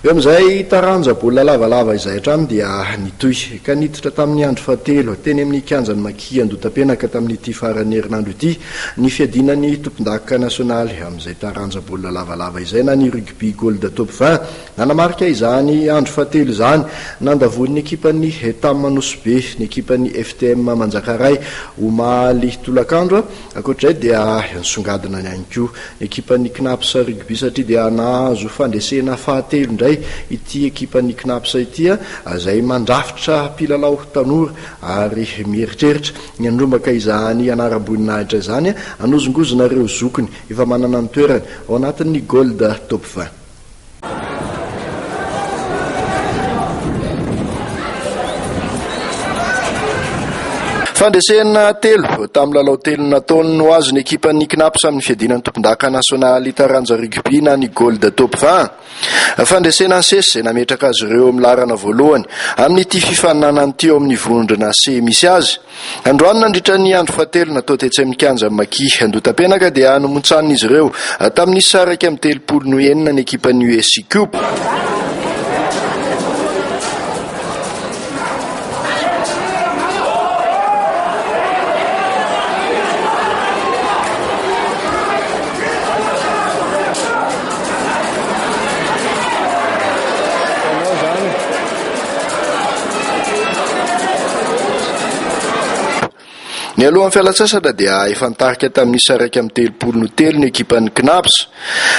Eo amin'izay taranja baolina lavalava izay hatrany dia nitohy ka niditra tamin'ny andro fahatelo teny amin'ny kianjan'i Maki Andotapenaka tamin'ity faran'ny herinandro ity ny fiadiana ny tompon-dakoka nasionaly amin'izay taranja baolina lavalava izay na ny rugby gold top vingt. Nanamarika izany andro fahatelo izany nandavoan'ny ekipan'ny Hetam Anosibe ny ekipan'ny FTM Manjakaray omaly tolakandro. Ankoatra izay dia nisongadina ihany koa ny ekipan'ny Cnaps Rugby satria dia nahazo fandresena fahatelo indray ity ekipan'ny Cnaps ity izay mandrafitra mpilalao tanora ary mieritreritra ny hanomaka izany anaram-boninahitra izany hanozongozona ireo zokiny efa manana ny toerany ao anatin'ny Gold Top vingt. Fandresena telo tamin'ny lalao telo nataony ho azy ny ekipan'ny Cnaps amin'ny fiadiana ny tompondaka nasionaly taranja rugby na ny Gold Top 20. Fandresena sesy izay nametraka azy ireo amin'ny laharana voalohany amin'ity fifaninanana ity ao amin'ny vondrona C misy azy. Androany nandritra ny andro fahatelo natao tetsy amin'ny kianjan'ny Maki Andotapenaka dia nomontsanin'izy ireo tamin'ny isa iraika amby telopolo no enina ny ekipan'ny US Cup. Nialohan'ny fialantsasatra dia efa nitarika tamin'ny isa iraika amby telopolo no telo ny ekipan'ny Cnaps.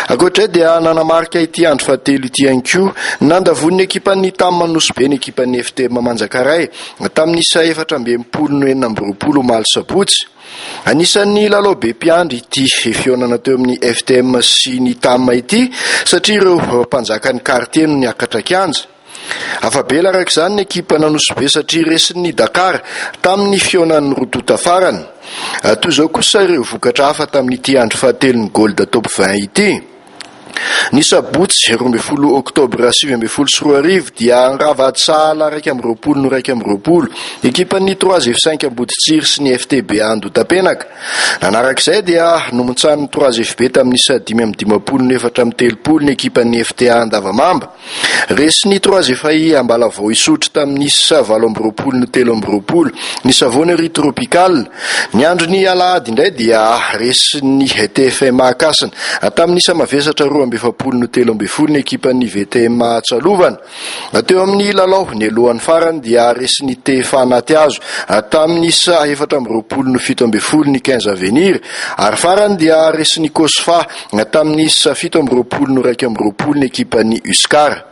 Ankoatra izay dia nanamarika ity andro fahatelo ity ihany koa nandavoan'ny ekipan'ny TAM Anosibe ny ekipan'ny FTM Manjakaray tamin'ny isa efatra amby enimpolo no enina amby roapolo omaly sabotsy. Anisan'ny lalao be mpiandry ity fihaonana teo amin'ny FTM sy ny TAM ity satria ireo mpanjakan'ny quartier no niakatra kianja. Afa-bela araka izany ny ekipan'Anosibe satria resin'ny Dakar tamin'ny fihaonan'ny roa tonta farany. Toy izao kosa ireo vokatra hafa tamin'ity andro fahatelon'ny Gold Top 20 ity. Ny sabotsy roa ambin'ny folo oktobra sivy ambin'ny folo sy roa arivo dia handrava ady sahala iraika amby roapolo no iraika amby roapolo ekipan'ny Trois F5 Amboditsiry sy ny FTB Andotapenaka. Nanaraka izay dia nomontsanin'ny Trois FB tamin'ny isa dimy amby dimampolo no efatra amby telopolo ny ekipan'ny FTA Andavamamba. Resin'i Trois efa i Ambalavoa hisotro tamin'ny sa valo amby roapolo no telo amby roapolo ny savonnerie Tropical. Ny andron'ny alahady indray dia resin'ny TFMA Ankasina. Tamin'ny sa mavesatra roa amby efapolo no telo ambin'ny folo ny ekipan'ny VTMA Atsalovana. Teo amin'ny lalao nialohan'ny farany dia resin'ny TFA Anatihazo tamin'ny sa efatra amby roapolo no fito ambin'ny folo ny Quinze Avenir ary farany dia resin'i Cosfa Tamin'ny sa fito amby roapolo no iraika amby roapolo ny ekipan'ny Uscar.